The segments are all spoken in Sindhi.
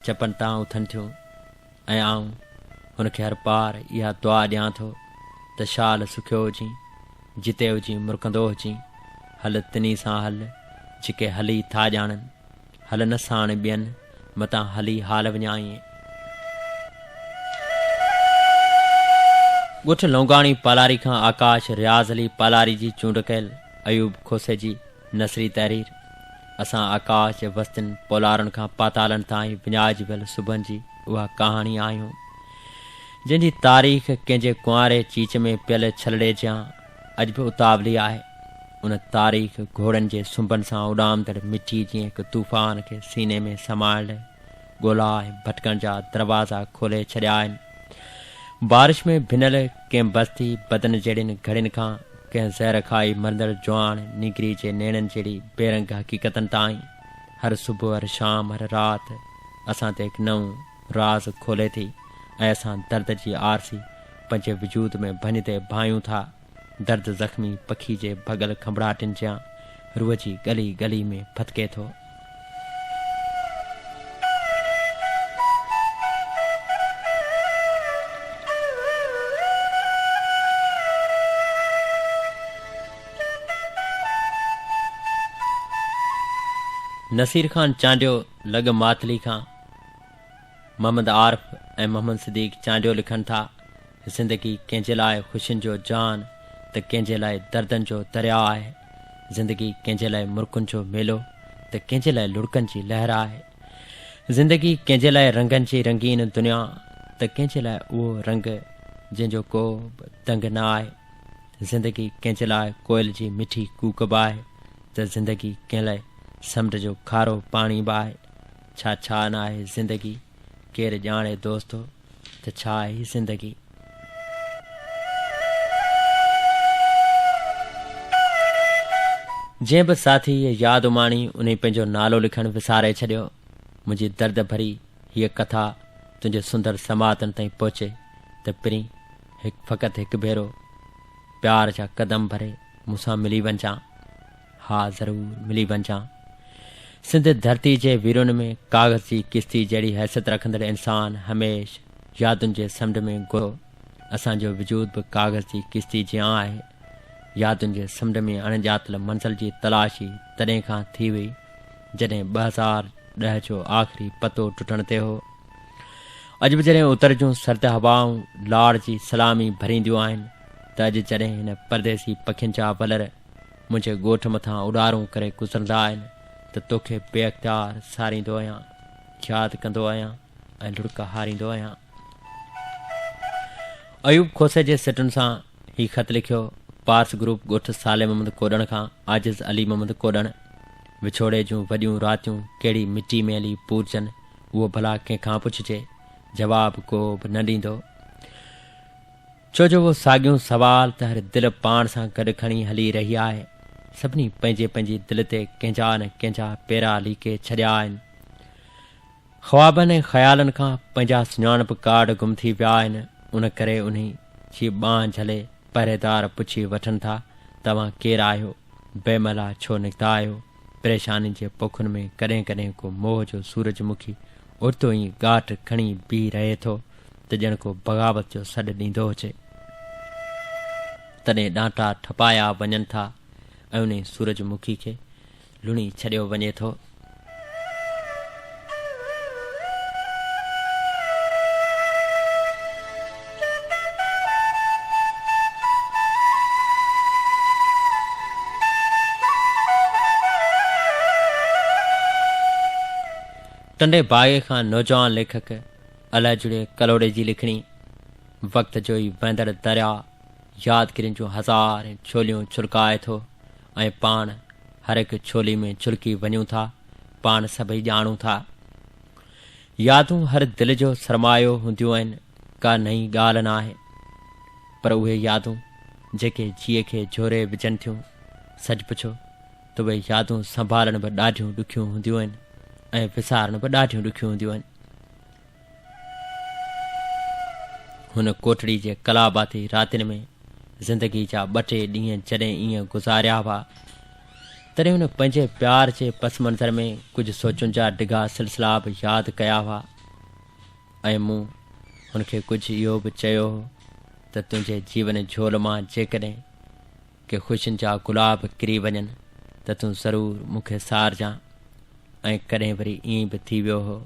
چپن تان اٿن ٿيون ۽ آئون هن کي هر پار اها دعا ڏيان ٿو ته شال سکيو هجين، جتي هجين مرڪندو هجين، هل تنهي سان هل، جيڪي هلي ٿا ڄاڻن، هل نه ساڻ ٻين، متان هلي حال وڃائين. ڳوٺ لونگاڻي پالاري کان آڪاش رياض علي پالاري جي چونڊ ڪيل، ايوب کوسي جي نثري تحرير، اسان آڪاش جي وستين پولارن کان پاتالن تائين وڃائجبل صبحن جي اها ڪهاڻي آهيون، جنهن جي تاريخ ڪنهن جي ڪنواري چيچ ۾ پيل ڇلڙي جيان اڄ به اتاولي آهي. ان تاريخ گهوڙن جي سنبن سان اڏامندڙ مٺي جيئن هڪ طوفان کي سيني ۾ سمائڻ لئه ڳولا ۽ ڀٽڪڻ جا دروازا کولي ڇڏيا آهن. بارش ۾ ڀنل ڪنهن بستي بدن جهڙين گهڙين کان ڪنهن زهر کائي مرندڙ جوان نينگري جي نيڻن جهڙي بيرنگ حقيقتن تائين هر صبح، هر شام، هر رات اسان تي هڪ نئون راز کولي ٿي ۽ اسان درد جي آرسي پنهنجي وجود ۾ ڀڃتي ڀايون ٿا. درد زخمي پکي جي ڀڳل کنڀڙاٽين جيان روح جي ڳلي ڳلي ۾ ڦٿڪي ٿو. نصير خان چانڊيو لڳ ماتلي کان محمد عارف ۽ محمد صديق چانڊيو لکن ٿا، زندگي ڪنهن جي لاء خوشين جو جان ته ڪنهن جي لاء دردن جو درياء آهي. زندگي ڪنهن جي لاء مرڪن جو ميلو ته ڪنهن جي لاء لڙڪن جي لهر آهي. زندگي ڪنهن جي لاء رنگن جي رنگين دنيا ته ڪنهن جي لاء اهو رنگ جنهن جو ڪو به دنگ نه آهي. زندگي ڪنهن جي لاء ڪوئل جي مٺي ڪوڪ به آهي ته زندگي ڪنهن لاء سمنڊ جو کارو پاڻي به آهي. ڇا ڇا ناهي زندگي. ڪير ڄاڻي دوستو ته ڇا آهي هي زندگي. جنهن به ساٿي هيء ياد اماڻي انهي پنهنجو نالو لکڻ وساري ڇڏيو. منهنجي درد ڀري هيء ڪٿا تنهنجي سندر سماعتن تائين پهچي ته پرين هڪ فقط هڪ ڀيرو پيار جا قدم ڀري مون سان ملي وڃجان. ها ضرور ملي وڃجان. سنڌ ڌرتي جي ويرون ۾ ڪاغذ جي ڪشتي جهڙي حيثيت رکندڙ انسان هميش يادن جي سمنڊ ۾ گهرو. اسان جو وجود به ڪاغذ جي ڪشتي جيان آهي. يادن جي سمنڊ ۾ اڻ ڄاتل منزل جي تلاشي تڏهن کان ٿي هئي جڏهن ٻه هزار ڏهه جو آخري پتو ٽٽڻ تي هو. اڄ به جڏهن اتر جون سرد هوائون لاڙ جي سلامي ڀرينديون آهن ته اڄ جڏهن هن پرديسي پکين جا ولر منهنجي ڳوٺ مٿان اڏارون ڪري گذرندا آهن ته توکي بي اختيار ساريندو آهيان، ياد ڪندو آهيان ۽ لڙڪ هاريندو آهيان. ايوب کوسي جي سٽن سان هي خط لکيو، پارس گروپ ڳوٺ صالح محمد ڪوڏڻ کان عاجز علي محمد ڪوڏڻ، وڇوڙي جون وڏيون راتيون ڪهڙي مٽي ميلي پورجن، اهو ڀلا ڪنهن کان پڇجي، جواب ڪو به نه ڏيندو. ڇو جو اهو ساڳيون سوال ته هر دل پاڻ سان گڏ کڻي هلي رهي آهي. سڀني پنهنجي پنهنجي دل تي ڪنهن جا نه ڪنهن جا پيرا ليڪي ڇڏيا آهن. خوابن ۽ خيالن کان پنهنجا سڃاڻپ ڪارڊ گم ٿي ويا آهن ان ڪري انهي جي ٻانهن جهلي پهريدار پڇي وٺن ٿا توهان ڪير آهيو؟ بي مهلا ڇو نڪتا آهيو؟ پريشانين جي پوکن ۾ ڪڏهن ڪڏهن ڪو موهه جو سورج مکي اوچتو ئي ڳاٽ کڻي بيهي رهي ٿو ته ڄڻ ڪو بغاوت جو سڏ ڏيندو هجي. تڏهن ڏانٽا ٺپايا وڃن ٿا ۽ انهي سورج مکي کي لڻي ڇڏيو وڃي ٿو. ٽنڊي باغي کان نوجوان ليکڪ الاجڙي ڪلهوڙي جي لکڻي وقت جو ئي وهندڙ درياء يادگيرين جون هزارين ڇوليون ڇلڪائي ٿو ۽ پاڻ هر هڪ ڇولي ۾ ڇلڪي وڃون ٿا. پاڻ سڀئي ڄاڻون ٿا. يادون هر دل جو سرمايو هونديون آهن، ڪا نئين ڳالهه نه آهي. پر اهي يادون جيڪي جيء کي جهوري وجهن ٿيون، سچ پڇو ته اهي يادون سنڀالڻ به ڏاڍيون ڏکيون هونديون آهن ۽ وسارڻ به ڏاڍيون ڏکيون هونديون آهن. هن ڪوٽڙي جي ڪلاباتي راتين ۾ زندگي جا ٻه ٽي ڏينهن جڏهن ايئن گذاريا هئا، تڏهن هن پنهنجي پيار جي پس منظر ۾ ڪجهه سوچن جا ڊگها سلسلا به ياد ڪيا هئا ۽ مون هن کي ڪجهه اهو به چيو هو ته تنهنجي جيون جهول مان جيڪڏهن ڪي خوشين جا گلاب ڪري وڃن ته تون ضرور مون کي سارجان ۽ ڪڏهن وري ائين به ٿي ويو هو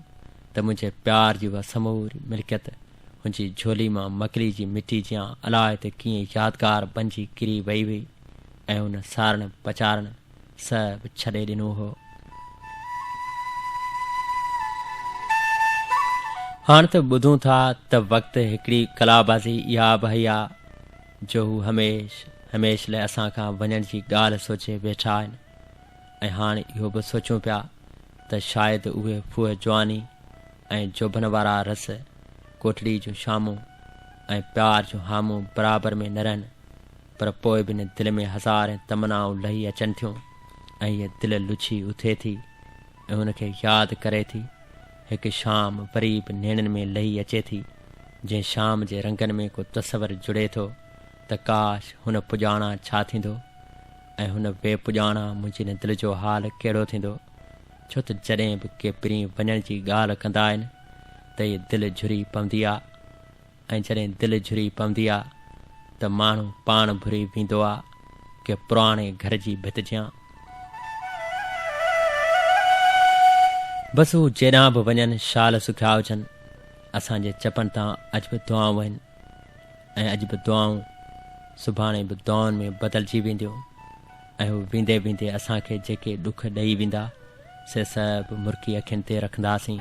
ته منهنجي پيار جي اها سموري ملڪيت هنجي جهولي مان مڪلي جي مٽي جيان الاء ته ڪيئن يادگار بنجي ڪري وئي هئي ۽ هن سارڻ پچارڻ سهب ڇڏي ڏنو هو. هاڻ ته ٻڌون ٿا ته وقت هڪڙي ڪلابازي اها به هيا. جو هو هميشھ هميشھ لاء اسان کان وڃڻ جي ڳالهه سوچي ويٺا آهن ۽ هاڻ اهو به سوچون پيا ته شايد اهي ڦوهه جواني ۽ جوڀن وارا رس ڪوٽڙي جون شامون ۽ پيار جون هامون برابر ۾ نه رهن پر پوء به نه دل ۾ هزارين تمنائون لهي اچن ٿيون ۽ هيء دل لڇي اٿي ٿي هن کي ياد ڪري ٿي، هڪ شام وري به نيڻن ۾ لهي اچي ٿي، جنهن شام جي رنگن ۾ ڪو تصور جڙي ٿو ته ڪاش هن پڄاڻا ڇا ٿيندو ۽ هن بي پڄاڻا منهنجي هن دل جو حال ڪهڙو ٿيندو، ڇو ته جڏهن به ڪي پرين وڃڻ جي ڳالهه ڪندا آهن ته هي دل جھري پوندي آ ۽ جڏهن دل جھري پوندي آ ته ماڻھو پاڻ بھري ويندو آ ڪنھن پراڻي گھر جي ڀت جيان. بس ھو جيڏانھن به وڃن شال سکيا ھجن اسان جي چپن تان اڄ به دعائون آھن ۽ اڄ به دعائون سڀاڻي به دعائن ۾ بدلجي وينديون ۽ ھو ويندي ويندي اسان کي جيڪي ڏک ڏئي ويندا سي سڀ مرڪي اکين تي رکنداسين.